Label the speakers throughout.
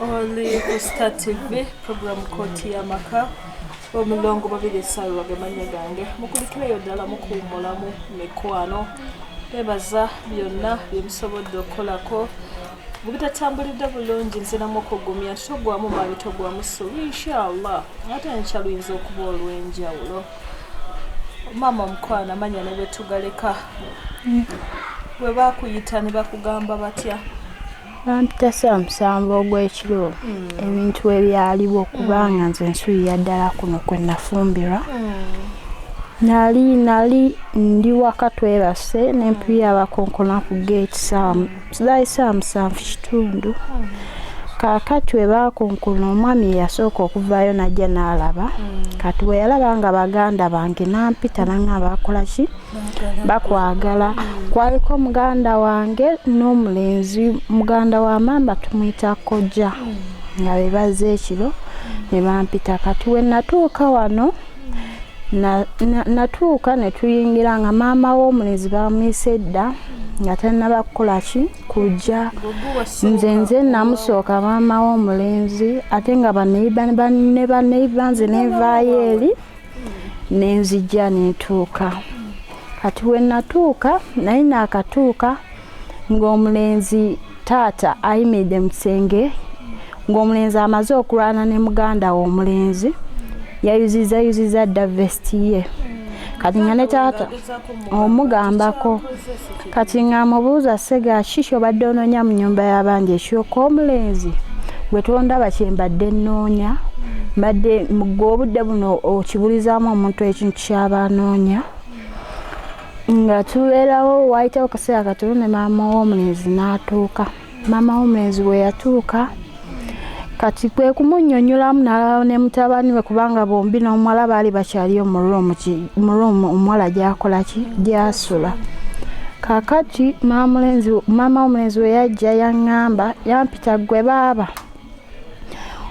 Speaker 1: oli ku star tv program kooti y'amaka omulongo babiri esawa gemanya gange mukulikireyo ddala mukuwumulamu mikwano bebaza byonna byemusobodde okukolako bwebitatambulidde bulungi nziramu okugumya titogwamu maanyi togwamu ssuubi inshallah ate nkya luyinza okuba olw'enjawulo maama omukwana manya ne bwetugaleka bwe bakuyita ne bakugamba batya bampita
Speaker 2: saamusamba ogw'ekiro hmm. ebintu ebyaliwo kubanga nze nsuulira ddala kuno kwe nafumbirwa nali nali ndi waka twebase nempiira abakonkona ku geeti zali saamusanvu kitundu kakati we baakonkona omwami eyasooka okuvaayo najja n'alaba kati bwe yalaba nga baganda bange nampita nanga bakolaki mm. bakwagala kwaliko muganda wange n'omulenzi muganda wa maama tumuyita kojja nga bebaze ekiro ne bampita kati we natuuka wano natuuka ne tuyingira nga maama w'omulenzi bamuyise edda nga tannaba kukola ki kujja nze nze namusooka maama w'omulenzi ate nga baneiba ne baneiba nze nenvaayo eri nenzijja netuuka kati wenatuuka naye nakatuuka ng'omulenzi taata ayimiridde mu kisenge ng'omulenzi amaze okulwana ne muganda we omulenzi yayuziza yuziza dda vesti ye kati nga ne taata omugambako kati ng'amubuuza ssega kiki obadde onoonya mu nyumba y'abandi ekyoka omulenzi gwe tondaba kye mbadde nnoonya mbadde gwe obudde buno okibulizaamu omuntu ekintu kyaba anoonya nga tubeerawo waayitawo kaseera katono ne maama w'omulenzi n'atuuka maama w'omulenzi bwe yatuuka kati kwe kumunyonyolamu n'alaba ne mutabani we kubanga bombi n'omuwala baali bakyaliyo mu ruumu omuwala gyakola ki gyasula kakati maama w'omulenzi we yajja yaŋŋamba yampita ggwe baaba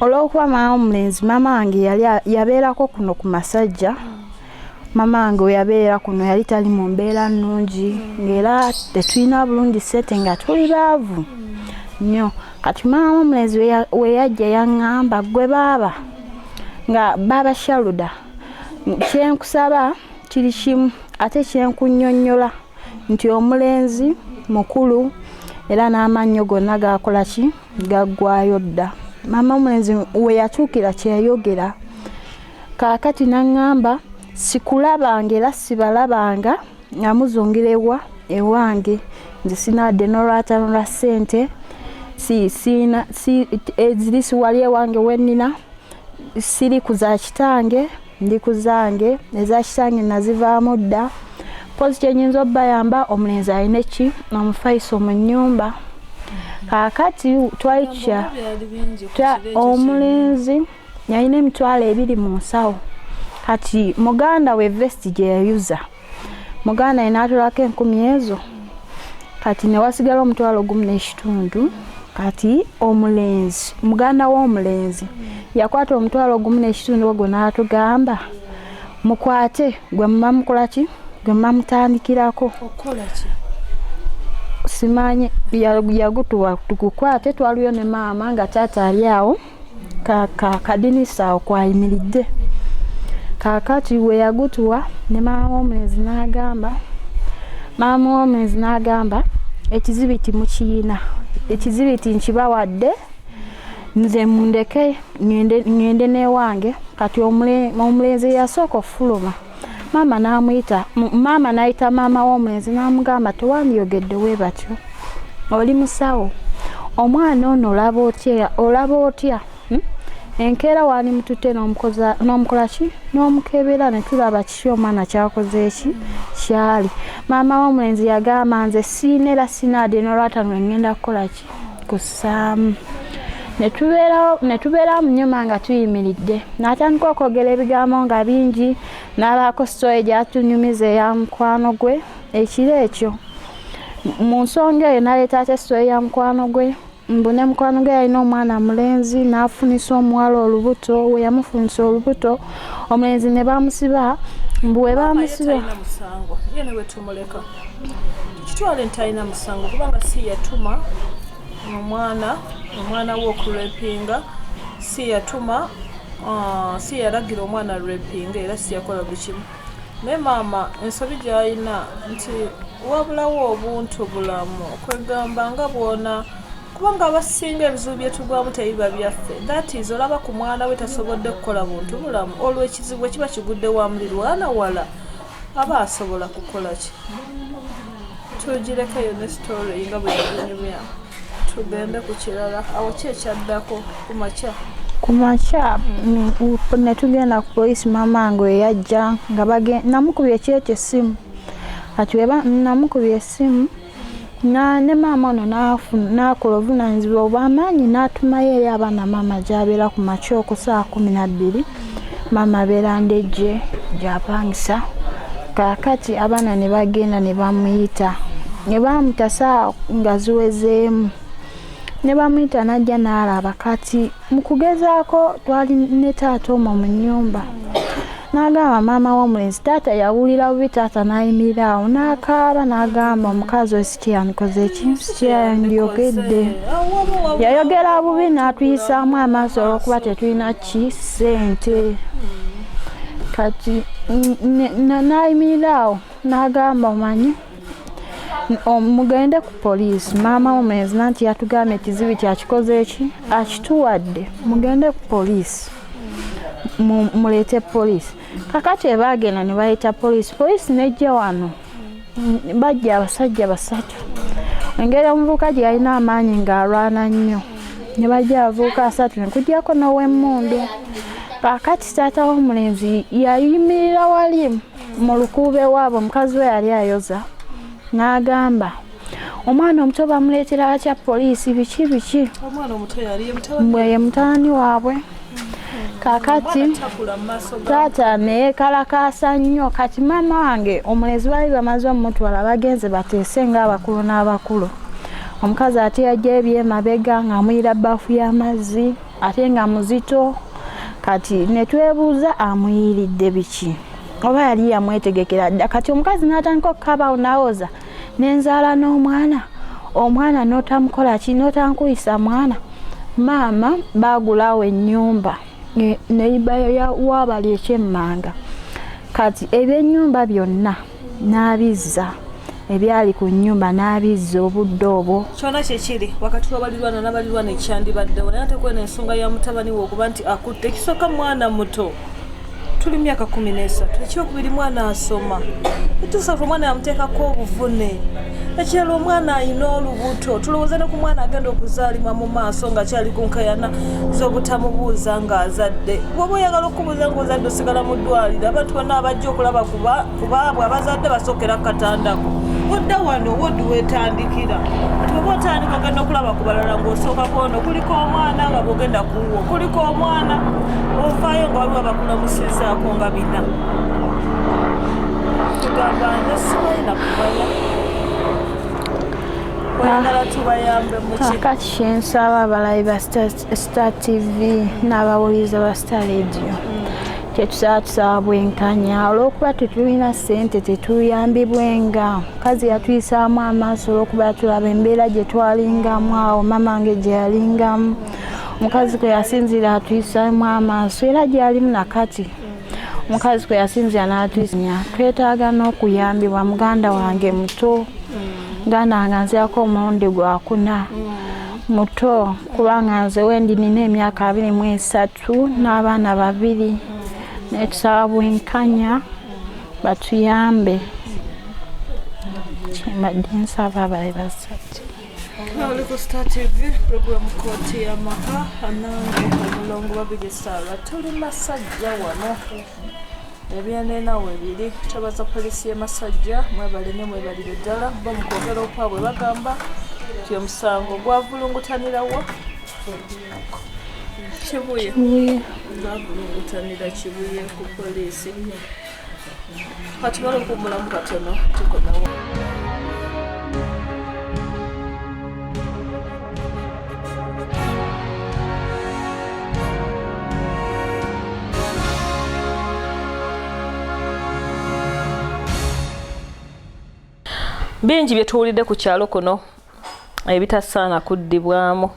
Speaker 2: olw'okuba maama w'omulenzi maama wange yabeerako kuno ku masajja mamange weyabeera kuno yali tali mu mbeera nnungi ngaera tetulina bulungi sente nga tuli baavu nnyo kati maama omulenzi weyajja yaŋŋamba gwe baaba nga baaba shaluda kyenkusaba kiri kimu ate kyenkunyonnyola nti omulenzi mukulu era n'amannyo gonna gakola ki gaggwayo dda maama omulenzi weyatuukira kyeyogera Kaakati n'aŋŋamba, Sikulabanga era sibalabanga nga muzungira ewa ewange. Nze sirina wadde n'olwataano lwa ssente, eziri siwali ewange we nnina, siri ku za kitange, ndi ku zange. Eza kitange nazivaamu dda. Mpozzi kye nnyinza obayamba, omulenzi alina eki omufaiso mu nnyumba. Kaakati twali tukya omulenzi. Twa, yalina emitwalo ebiri mu nsawo kati muganda we vesti gye yayuza muganda ye n'atolako enkumi ezo kati ne wasigala omutwalo gumu n'ekitundu kati omulenzi muganda w'omulenzi yakwata omutwalo gumu n'ekitundu ogwo n'atugamba mukwate gwe muba mukola ki gwe muba mutandikirako
Speaker 1: simanyi
Speaker 2: yagutuwa tugukwate twaliyo ne maama nga taata ali awo kaka kadinisa awo kwayimiridde kakati we yagutuwa ne maama w'omulenzi n'agamba maama w'omulenzi n'agamba ekizibiti mukiyina ekizibiti nkibawadde nze mundeke ŋŋende n'ewange kati omulenzi eyasooka okufuluma maama n'amuyita maama n'ayita maama w'omwenzi n'amugamba tewandiyogedde we batyo oli musawo omwana ono olaba otya olaba otya hmm? enkeera waali mututte n'omukola ki n'omukebera ne tulaba kiki omwana kyakoze eki kyali maama w'omwenzi yagamba nze siina era sinaadde nolwata nwe ngenda kukola ki kussaamu ne tubeerawo mu nyuma nga tuyimiridde n'atandika okwogera ebigambo nga bingi n'abaako sitooyi gyatunyumiza eya mukwano gwe ekiro ekyo mu nsonga eyo naleeta ate sitooyi ya mukwano gwe mbu ne mukwano gwe yalina omwana mulenzi n'afunisa omuwala olubuto we yamufunisa olubuto omulenzi ne bamusiba mbu we bamusiba
Speaker 1: kitwale nti alina musango kubanga si yatuma omwana omwana we okurepinga si yatuma uh, si yalagira omwana repinga era si yakola buli kimu naye maama ensobi gyalina nti wabulawo obuntu bulamu okwegamba nga bwona kubanga abasinga ebizibu byetugwamu tebiba byaffe that is olaba ku mwana we tasobodde kukola buntu bulamu olwo ekizibu ekiba kigudde wa mulirwana wala aba asobola kukola ki tugireko eyo ne story nga bwe yaginyumya tugende ku kirala awo ki ekyaddako ku makya ku makya mm, ne tugenda ku poliisi maama nge eyajja nga namukubye ekyekyo essimu ati weba namukubye essimu na ne maama ono n'akola obuvunaanyizibwa obw'amaanyi n'atumayo eri abaana maama gy'abeera ku makya oku saa kumi na bbiri maama abeera ndejje gy'apangisa kaakati abaana ne bagenda ne bamuyita ne baamutasa nga ziwezeemu ne bamuyita n'ajja n'alaba kati mu kugezaako twali ne taata omo mu nnyumba n'agamba maama w'omulenzi taata yawulira bubi taata n'ayimirira awo n'akaaba n'agamba omukazi oyo sikyeyanikoze ekintu sikyeyandyogedde yayogera bubi n'atuyisaamu amaaso olwokuba tetulina ki ssente kati n'ayimirira awo n'agamba omanyi mugende ku poliisi maama womenzi nanti yatugambye ekizibu kyakikoze eki akituwadde mugende ku poliisi muleete poliisi kakati ebaagenda ne bayita poliisi poliisi nejja wano bajja abasajja basatu engeri omuvubuka gye yalina amaanyi ng'alwana nnyo ne bajja abavubuka asatu ne kujjako n'owemmundu kakati taata w'omulenzi yayimirira wali mu lukuuba ewaabwe omukazi we yali ayoza n'agamba omwana omuto bamuleetera atya poliisi biki biki ye mutabani waabwe kakati taata neyekalakaasa nnyo kati maama wange omulezi baali bamaze omumutwala bagenze bateese ngaabakulu n'abakulu omukazi ate yajja ebyemabega ng'amuyira baafu y'amazzi ya ate nga muzito kati netwebuuza amuyiiridde biki oba yali yamwetegekera dda kati omukazi natandika okukabaawo nawoza nenzaala n'omwana omwana notamukola ki notankuyisa mwana maama bagulawo ennyumba neibayo wabali ekyemmanga kati ebyenyumba byonna n'abizza ebyali ku nnyumba n'abizza obudde obwo kyona kyekiri wakati wabalirwana nabalirwana ekyandibaddewo naye ate kwena ensonga ya mutabani we okuba nti akutte ekisooka mwana muto tuli myaka kumi nesatu ekyokubiri mwana asoma etusatu omwana yamuteekako obuvune ekyalo omwana ayina olubuto tulowooza ne ku mwana agenda okuzaalibwa mu maaso nga kyali ku nkayana z'obutamubuuza ng'azadde woba oyagala okubuuza ngaozadde osigala mu ddwaliro abantu bonna abajja okulaba kubaabwe abazadde basokera katandako odda wano wodi wetandikira oba otandika ogenda okulaba ku balala ngaosooka kwono kuliko omwana nga bwogenda kuwo kuliko omwana ovaayo nga waliwo bakulamusizaako nga bina tugamba nze simanyi nakumanya oyagala tubayambe muki kakati
Speaker 2: kyensaba abalayi ba stars Star TV n'abawuliriza ba Star Radio kyetusaba tusaba bwenkanya olwokuba tetulina sente tetuyambibwenga mukazi yatuyisaamu amaaso olwokuba tulaba embeera gye twalingamu awo mama nge gye yalingamu mukazi kwe yasinziira atuyisaamu amaaso era gyalimu nakati mukazi kwe yasinziira n'atuyisanya twetaaga n'okuyambibwa muganda wange muto muganda wange nzirako omulundi gwakuna mm. muto kubanga nze wendi nina emyaka abiri mu esatu n'abaana babiri naye tusaba bwenkanya batuyambe kyembadde nsaba bali basatu Oli ku
Speaker 1: Star TV programu kooti y'amaka anange omulongo babiri saala tuli masajja wano ebyenena webiri twebaza poliisi y'e masajja mwebale nyo mwebalire ddala bo mu kwogera okwabwe bagamba nti omusango gwavulungutanirawo kibuye gwavulungutanira kibuye ku poliisi kati bali okuwumulamu katono tukomewo bingi bye tuwulidde ku kyalo kuno ebitasaana kuddibwamu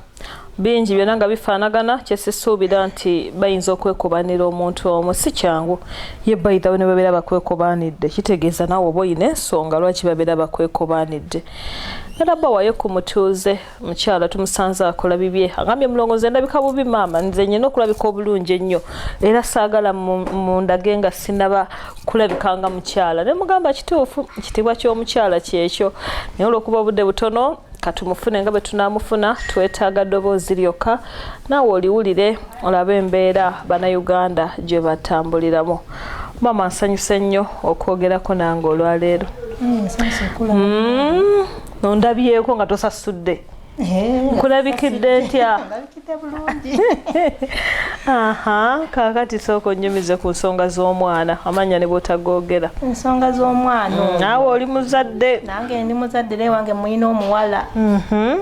Speaker 1: bingi byonna nga bifaanagana kyesisuubira nti bayinza okwekobanira omuntu omu si kyangu ye bayithawe ne babeera bakwekobanidde kitegeeza naawe oba olina ensonga lwaki babeera bakwekobanidde era bawayo ku mutuuze mukyala tumusanze akola bibye agambye mulongo nze ndabika bubi maama nze nyina okulabika obulungi ennyo era saagala mundage nga sinaba kulabika nga mukyala ne mugamba kituufu kitibwa ky'omukyala kyekyo naye olwokuba obudde butono katumufune nga bwetunamufuna twetaaga ddoboozi lyokka naawe oliwulire olabe embeera bannayuganda gye batambuliramu maama nsanyuse nnyo okwogerako nange olwaleero mm, mm. ondabyeko nga tosasudde eh, nkulabikidde ntya aha kakati sooka onyumize ku nsonga z'omwana amanya ne bwotagogera ensonga z'omwana
Speaker 3: mm, naawe oli muzadde
Speaker 1: nange ndi muzadde
Speaker 3: naye wange mulina omuwala mhm.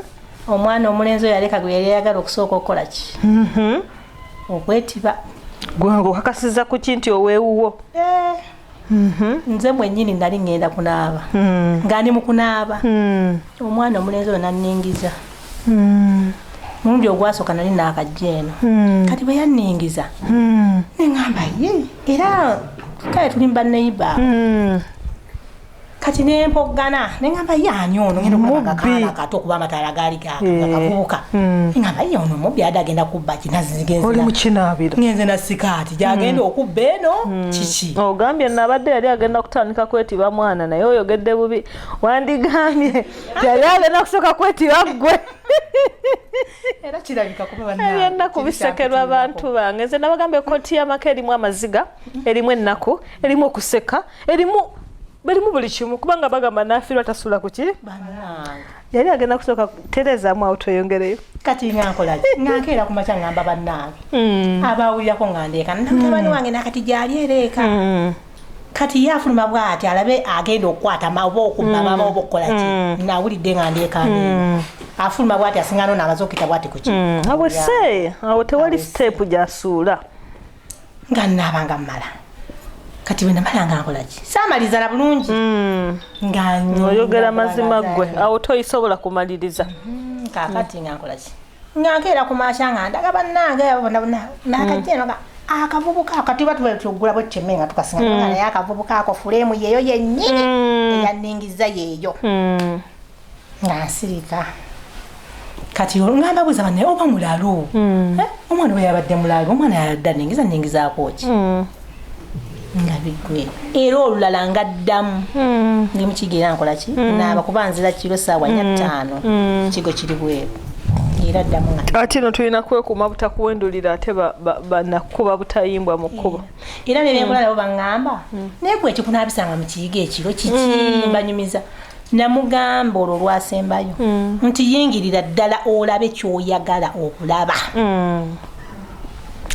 Speaker 3: omwana omulenzi oyo aleka gwe yali ayagala okusooka okukola ki mhm. okwetiba
Speaker 1: gwange okakasiza ku ki nti owewuwo eh.
Speaker 3: Mhm. nze mwenyini nali ŋŋenda kunaaba mm. nga ndi mu kunaaba mm. omwana omulenzi oyo nanningiza mm. mulundi ogwasooka nali naakajja eno kati bwe yanningiza neŋamba ye era kale tuli mu baneiba kati nempoggana nengamba ye ani ono ngenda okulaba kakaana kato okuba amataala gaali gakavubuka eh. hmm. ngamba ye ono mubbi ade agenda kubba
Speaker 1: kinazigenze na sikaati
Speaker 3: gyagenda hmm. okubba eno hmm. kiki ogambye nabadde
Speaker 1: yali agenda kutandika kwetiba mwana naye oyogedde bubi wandigambye yali agenda kusooka kwetiba ggwe
Speaker 3: era kirabika kubaennaku bisekerwa
Speaker 1: abantu bange nze nabagambye koti yamaka erimu amaziga erimu ennaku erimu okuseka erimu balimu buli kimu kubanga bagamba nafirwa tasula kuki yali agenda kusooka tereezaamu awo tweyongereyo kati nga nkolaki
Speaker 3: nga nkeera ku makya ngamba bannange hmm. abawulirako nga ndeeka namutabani hmm. wange nakati gyali ereeka hmm. kati ye afuluma bwati alabe agenda okukwata oba okubba mama oba okukola ki nawulidde nga ndeekani afuluma bwati asinga nona amaze okuyita bwati kuki awo se
Speaker 1: awo tewali siteepu gyasuula
Speaker 3: nga nnaabanga mmala kati bwe namala nga nkola ki saamaliza na bulungi hmm. ngaoyogera
Speaker 1: mazima ggwe awo toyisobola kumaliriza hmm, kakati
Speaker 3: nga nkola ki nga nkeera ku maasha nga ndaga bannange abo bona bona nakajenoga hmm. akavubuka ako kati batuba tuggula bwe tteme nga tukasinga naye akavubuka ako fuleemu yeeyo yennyini eyanningiza yeeyo nga nsirika kati olungamba buza bane oba mulalu mm. eh, omwana we yabadde mulalu omwana yadda ningiza ningizaako ki mm. nga bigwe era olulala nga ddamu mm. ndi mukiga era nkola ki mm. naaba kuba nzira kiro saawa nya mm. ttaano mm. kigo kiri bweru era ddamu nga ate no tulina
Speaker 1: kwekuuma butakuwendulira ate banakukuba butayimbwa mu kkubo eh, era nebyengula mm. nabo
Speaker 3: baŋŋamba mm. naye gwe ekikunaabisanga mu kiyiga ekiro kiki mm. mbanyumiza mm. namugamba olwo lwasembayo mm. nti yingirira ddala olabe kyoyagala okulaba
Speaker 1: mm.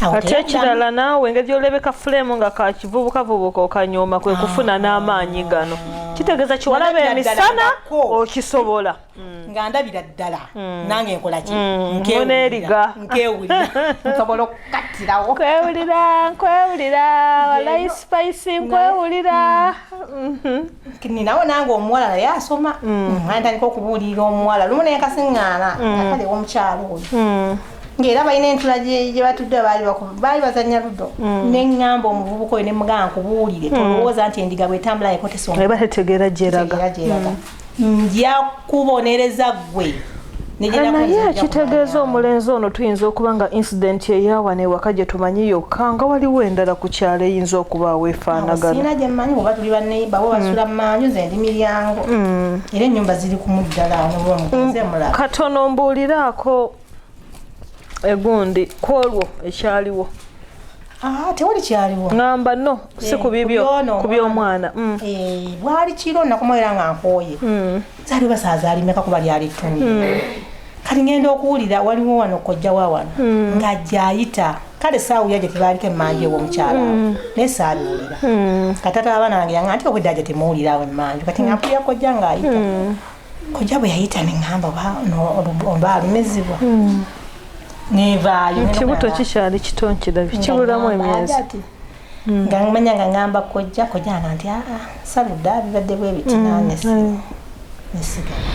Speaker 1: ate ekirala naawe engeri yolebeka fulemu nga kakivubukavubuka okanyooma kwe kufuna ah. n'amaanyi gano kitegeeza kiwalaba emisana okisobola mm. nga
Speaker 3: ndabira ddala mm. nange nkolaki mm. nkeeriga
Speaker 1: nkewulira
Speaker 3: nsobola okukattirawo nkwewulira
Speaker 1: nkwewulira walayi sipayisi nkwewulira mm-hmm.
Speaker 3: ninawo nange omuwala naye asoma mm. antandika okubuulirira omuwala lumu naye kasiŋŋaana mm. akali ewomukyalo oyo mm. ngaera balina entula gyebatudde baali bazanya ludo neŋŋamba omuvubuka oyo nemugamba nkubuulire tolowooza nti endiga bwetambula yeko tesonga tetegeera gyeraga nja kubonereza ggwe naye
Speaker 1: kitegeeza omulenzi ono tuyinza okuba nga incident eyawa newaka gye tumanyi yokka nga waliwo endala ku kyalo eyinza okubaawo efaanaganaina gyemanyi oba tuli
Speaker 3: baneiba bo basula mm. manju ze ndi miryango mm. era ennyumba ziri kumuddala mm. katono
Speaker 1: mbuuliraako egundi ku olwo ekyaliwo Ah,
Speaker 3: tewali kyaliwo ngamba no
Speaker 1: si eh, ku bibyo ku by'omwana mm. eh, bwali
Speaker 3: kiro nakumaera nga nkooye mm. zali oba saaza alimeka kuba lyali ttundu hmm. kati ngenda okuwulira waliwo wano kojja wa wano hmm. nga gyayita kale saawulira gye tebaaliko emmanju ew'omukyala hmm. naye saabiwulira katata abaana bange yanga nti obwedda gye temuwulira awo emmanju kati nga mpulira kojja ng'ayita kojja bwe yayita ne ŋŋamba oba alumizibwa nevaayo ekibuto
Speaker 1: kikyali kito nkirabye kibulamu emyezi mm. nga
Speaker 3: manya nga ngamba kojja kojja nga nti aa saludde abibadde bwe biti mm. nanesimu nesigala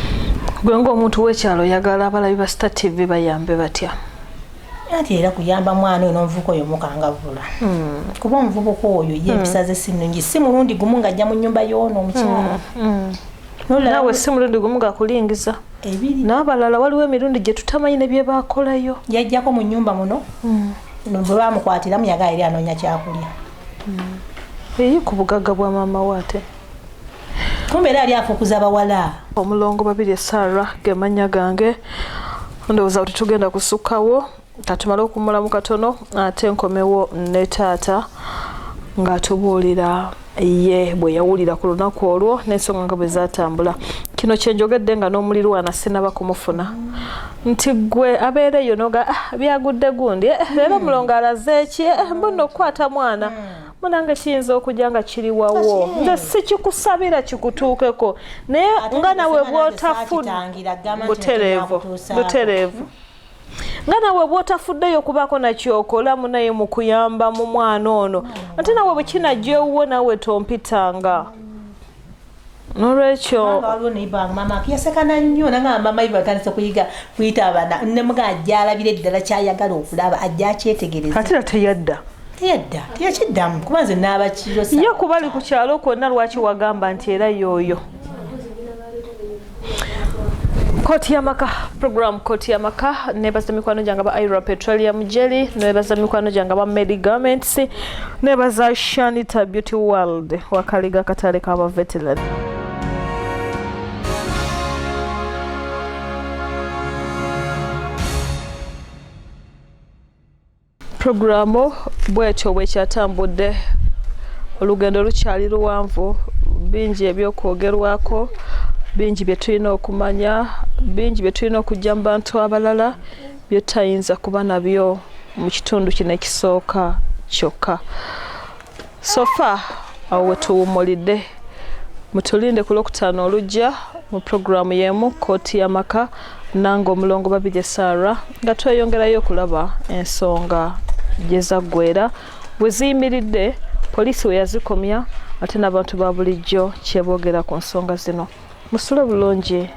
Speaker 3: gwe
Speaker 1: ngaomuntu w'ekyalo oyagala abalabi ba star tv bayambe batya anti
Speaker 3: era kuyamba mwana oyo n'omuvubuka oyo mukangavula mm. kuba omuvubuka oyo ye empisa ze si nnungi si mulundi gumu ng'ajja mu nnyumba y'ono omukyala
Speaker 1: nawe si mulundi gumu gakulingiza n'abalala waliwo emirundi gye tutamanyi ne bye bakolayo yajjako mu nnyumba
Speaker 3: muno bwe bamukwatiramu yagala eri anoonya kyakulya
Speaker 1: hmm. eyi ku bugagga bwa maama we ate
Speaker 3: kumbe era ali afukuza bawala omulongo babiri
Speaker 1: esara gemanya gange ndowooza kuti tugenda kusukkawo katumale okumulamu katono ate nkomewo ne taata ng'atubuulira ye bwe yawulira ku lunaku olwo n'ensonga nga bwe zaatambula kino kye njogedde nga n'omulirwana sinaba kumufuna nti gwe abeera eyo noga ah, byagudde gundi eh, eh, leero hmm. mulongo alaze eki eh, hmm. mbunna okukwata mwana hmm. munange kiyinza okujya nga kiri wawo nze sikikusabira kikutuukeko naye nga nawe bwotafudde butereevu butereevu nga nawe bwotafuddeyo okubaako nakyokola munaye mukuyamba mu mwana ono ate nawe bwekinajja ewuwo nawe tompitanga nolwekyo waliwo naye bamama
Speaker 3: yasekana nnyo nanga mama ibe atandise kuyiga kuyita abana nemuga ajja alabira eddala kyayagala okulaba ajja akyetegereza ate era teyadda
Speaker 1: teyadda teyakiddamu kuba nze naaba
Speaker 3: kiro ye kuba ali ku
Speaker 1: kyalo kwonna lwaki wagamba nti era yooyo koti yamaka program koti yamaka nebaza mikwano gyange aba ira petroleum jelly nebaza mikwano gyange aba medi garments nebaza shanita beauty world wakaliga katale kaba veteran Pulogulaamu bwetyo bwekyatambudde olugendo lukyali luwanvu bingi ebyokwogerwako bingi bye tulina okumanya bingi bye tulina okujja mu bantu abalala bye tutayinza kuba nabyo mu kitundu kino ekisooka kyokka sofa awo wetuwumulidde mutulinde ku lwokutaano olujja mu pulogulaamu y'emu kkooti y'amaka nange omulongo babirye saara nga tweyongerayo okulaba ensonga gye zaggwera we ziyimiridde poliisi we yazikomya ate n'abantu ba bulijjo kyeboogera ku nsonga zino musule bulungi